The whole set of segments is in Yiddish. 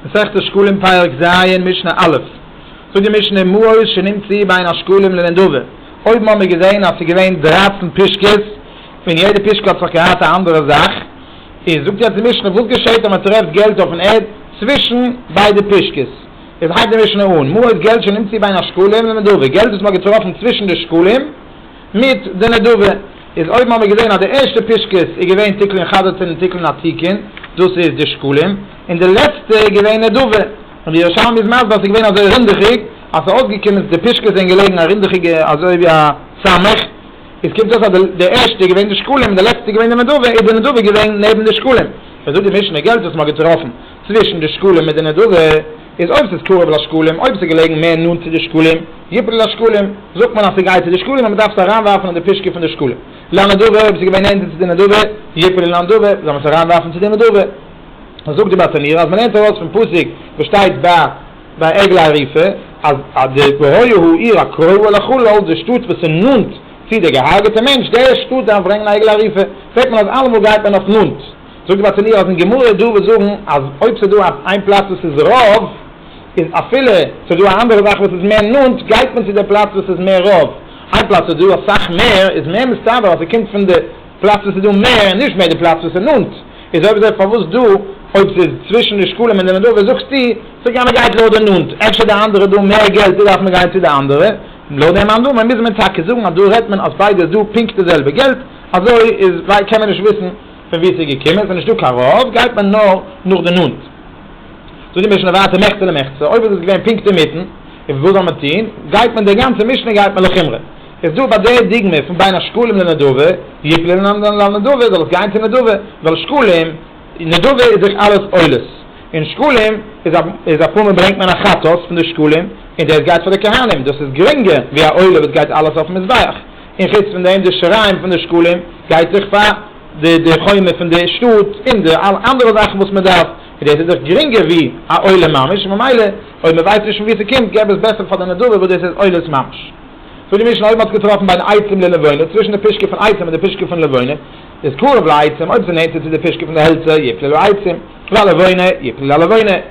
מסכת שקלים פרק ז משנה א', זאגט די משנה אין מהות שנמציא בין השקלים לנדבה, אויבן האבן מיר געזען אז ס'איז געווען דרײַצן פישקעס און יעדע פישקע האט זיך געהאט א אנדערע זאך, איז זאגט יעצט די משנה וואס געשעהט אז מ'טרעפט געלט אויפן ערד צווישן ביידע פישקעס, איז הייבט די משנה אן, מהות געלט שנמציא בין השקלים לנדבה, געלט וואס מ'האט געטראפן צווישן די שקלים, מיט די נדבה איז אויבן האבן מיר געזעהן אז די ערשטע פישקעס איז געווען תיקון חדתין און תיקון עתיקין דאס איז די שקלים און די לעצטע איז געווען נדבה און די ירושלמי איז מסביר אז ס'איז געווען אזוי רונדעכיג אז ס'איז אויסגעקומען די פישקעס זענען געלעגן א רונדעכיגע אזוי ווי א סמך איז קומט אויס אז די ערשטע איז געווען די שקלים און די לעצטע איז געווען די נדבה איז די נדבה געווען נעבן די שקלים ווען זאגט די משנה געלט וואס מ'האט געטראפן צווישן די שקלים מיט די נדבה איז אויב ס'איז קרוב לשקלים, אויב ס'איז געלעגן מער נאנט צו די שקלים, יפל לשקלים, זאגט מען אז ס'גייט צו די שקלים און מ'דארף עס אריינווארפן אין די פישקע פון די שקלים. לנדבה, אויב ס'איז געווען נענטער צו די נדבה, יפל לנדבה, זאל מען עס אריינווארפן צו די נדבה. זאגט די באטעמיר אז מ'לערנט ארויס פון פסוק וואס שטייט ביי עגלה ערופה, אז די והיה העיר הקרובה לחלל, די שטאט וואס איז נאנט צו די געהארגעטע מענטש, די שטאט דארף ברענגען א עגלה ערופה. זעט מען אז אלעמאל גייט מען אויף נאנט. זאגט ביי טעניות אין גמרא דא וואס זאגן אז אויב ס'דא איין פלאץ וואס איז רוב איז אפילו ס'דא א אנדערע זאך וואס איז מער נאנט גייט מען צו די פלאץ וואס איז מער רוב איין פלאץ וואס איז דא אסאך מער איז מער מסתבר אז ס'קומט פון די פלאץ וואס איז דא מער און נישט מער די פלאץ וואס איז נאנט איז אויב אזוי פארוואס דא אויב ס'איז צווישן די שקלים אין די נדבה זאגסטו ס'גייט מען גייט לויט די נאנט אפשר די אנדערע דא מער געלט דא דארף מען גיין צו די אנדערע לויט דעם אנדערן מוז מען טאקע זאגן אז דא רעדט מען אז ביידע איז דא פונקט די זעלבע געלט אזוי איז קען מען נישט וויסן פון וואו ס'איז געקומען, ס'איז נישטא קיין רוב, גייט מען נאר נאך די נאנט. זאגט די משנה ווייטער מחצה למחצה, אויב איז עס געווען פונקט אינמיטן, איז וואס זאל מען טון, גייט מען די גאנצע משנה גייט מען לחומרא. איז דא ביי די דוגמא פון בין השקלים לנדבה, יפלי לנדבה, זאל עס גיין צו נדבה, ווייל שקלים, נדבה איז דאך אלעס עולות, און שקלים איז א איז אפאר מאל ברענגט מען א חטאת פון די שקלים, און דאס גייט פאר די כהנים, דאס איז גרינגער ווי א עולה וואס גייט אלעס אויפן מזבח. און חוץ פון דעם די שיריים פון די שקלים גייט דאך פאר די די חומה פון די שטאט און די אלע אנדערע זאכן וואס מען דארף און דאס איז דאך גרינגער ווי א עולה ממש און ממילא אויב מען ווייסט נישט פון ווי ס'קומט געב עס בעסער פאר די נדבה וואס דאס איז עולות ממש. זאגט די משנה אויב מען האט געטראפן בין עצים ללבנה צווישן די פישקע פון עצים און די פישקע פון לבנה איז קרוב לעצים אויב ס'איז נענטער צו די פישקע פון די העלצער יפלו לעצים וללבנה יפלו ללבנה.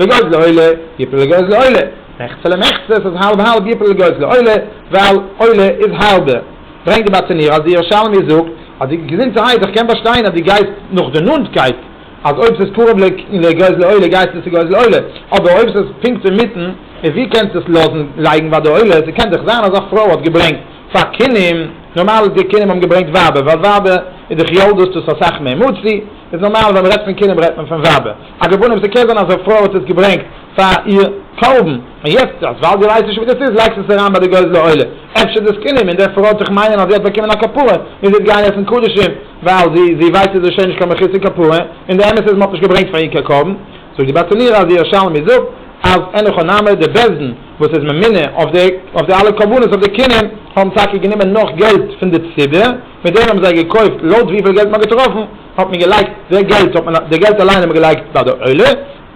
לגוי'ס לעולה, יפל לגוי'ס לעולה, מחצה למחצה, ס'איז האלב האלב, יפל לגוי'ס לעולה, ווייל עולה איז האלבע. ברענגט די באטעניר אז די ירושלמי זאגט אז די געזונטערהייט, איך קען באשטיין אז די גייסט נאך די נאנטקייט, אז אויב ס'איז קרוב לגוי'ס לעולה גייסטו צו גוי'ס לעולה, אבער אויב ס'איז פונקט אינמיטן, איז ווי קענסטו עס לאזן לייגן ביי די עולה, ס'קען דאך זיין אז א פרוי האט געברענגט פאר כינים, נארמאל איז די כינים האבן געברענגט ווייבער, ווייל ווייבער איז דאך יולדות, דאס איז אסאך מער מוציא, איז נארמאל ווען מ'רעדט פון כינים רעדט מען פון ווייבער. על כל פנים, ס'קען זיין אז א פרוי האט עס געברענגט פאר איר קרבן, און יעצט אז ווייל דו ווייסט נישט ווי דאס איז לייגסטו עס אריין ביי די גוזלי עולה, אפשר די זקנים און די פרוי האט זיך מיינען אז זי האט באקומען א כפרה, מוז יעצט גיין עסן קדשים ווייל זי זי ווייסט אז עס איז שוין נישט קיין מכוסה כפרה, און די אמת איז מען האט נישט געברענגט פאר איר קיין קרבן. זאגט די בת ענירה אז די ירושלמי זאגט אז אין איכא נמי די בית דין וואס איז ממונה אויף די אויף די אלע קרבנות אויף די קינען האבן טאקע גענומען נאך געלט פון די ציבור, מיט דעם האבן זיי געקויפט לויט וויפיל געלט מען האט געטראפן, האט מען געלייגט די געלט האט מען די געלט אליין האט מען געלייגט ביי די עולה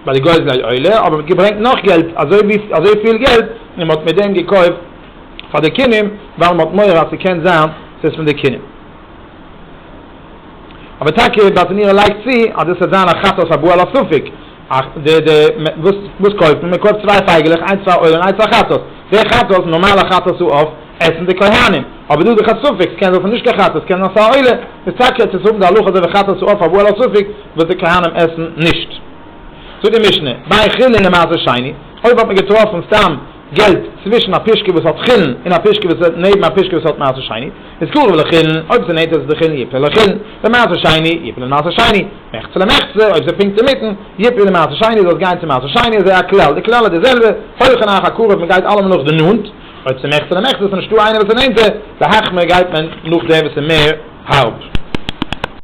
ביי די גוזלי עולה האבן מיר געברענגט נאך געלט אזוי ווי אזוי פיל געלט און מ'האט מיט דעם געקויפט פאר די קינים ווייל מ'האט מורא אז ס'קען זיין ס'איז פון די קינים אבער טאקע באטנירא לייגט צו אז דאס וועט זיין א חטאת הבא על הספק די די וואס קויפט מען? מ'קויפט צוויי פייגעלעך איינס פאר עולה און איינס פאר חטאת די חטאת נארמאלע חטאת איז אויף עסן די כהנים, אבער דא איז דאך א ספק, עס קען זיין ס'איז נישט קיין חטה, עס קען זיין ס'איז א עולה, איז טאקע עס צו האבן די הלכה אזוי ווי חטה צו עוף אבער על הספק וואס די כהנים עסן נישט. זאגט די משנה, ביי חולין למעשה שני, אויב האט מען געטראפן סתם געלט צווישן א פישקע וואס האט חולין און א פישקע וואס איז נעבן א פישקע וואס האט מעשר שני, איז קרוב לחולין, אויב ס'איז נענטער צו די חולין יפלה לחולין, למעשר שני יפלה למעשר שני, מחצה למחצה, אויב ס'איז פונקט אינמיטן, יפלה למעשר שני, זאל עס גיין צו מעשר שני, אזוי א כלל, די כלל איז די זעלבע, הוי חנוך הקרוב, מען גייט אלעמאל נאך די נאנט. אויב ס'איז מער עכט צו דעם עכט איז עס נישטא איינער וואס איז נענטער, די האכמער גייט מען נאך דער וואס איז מער הארב.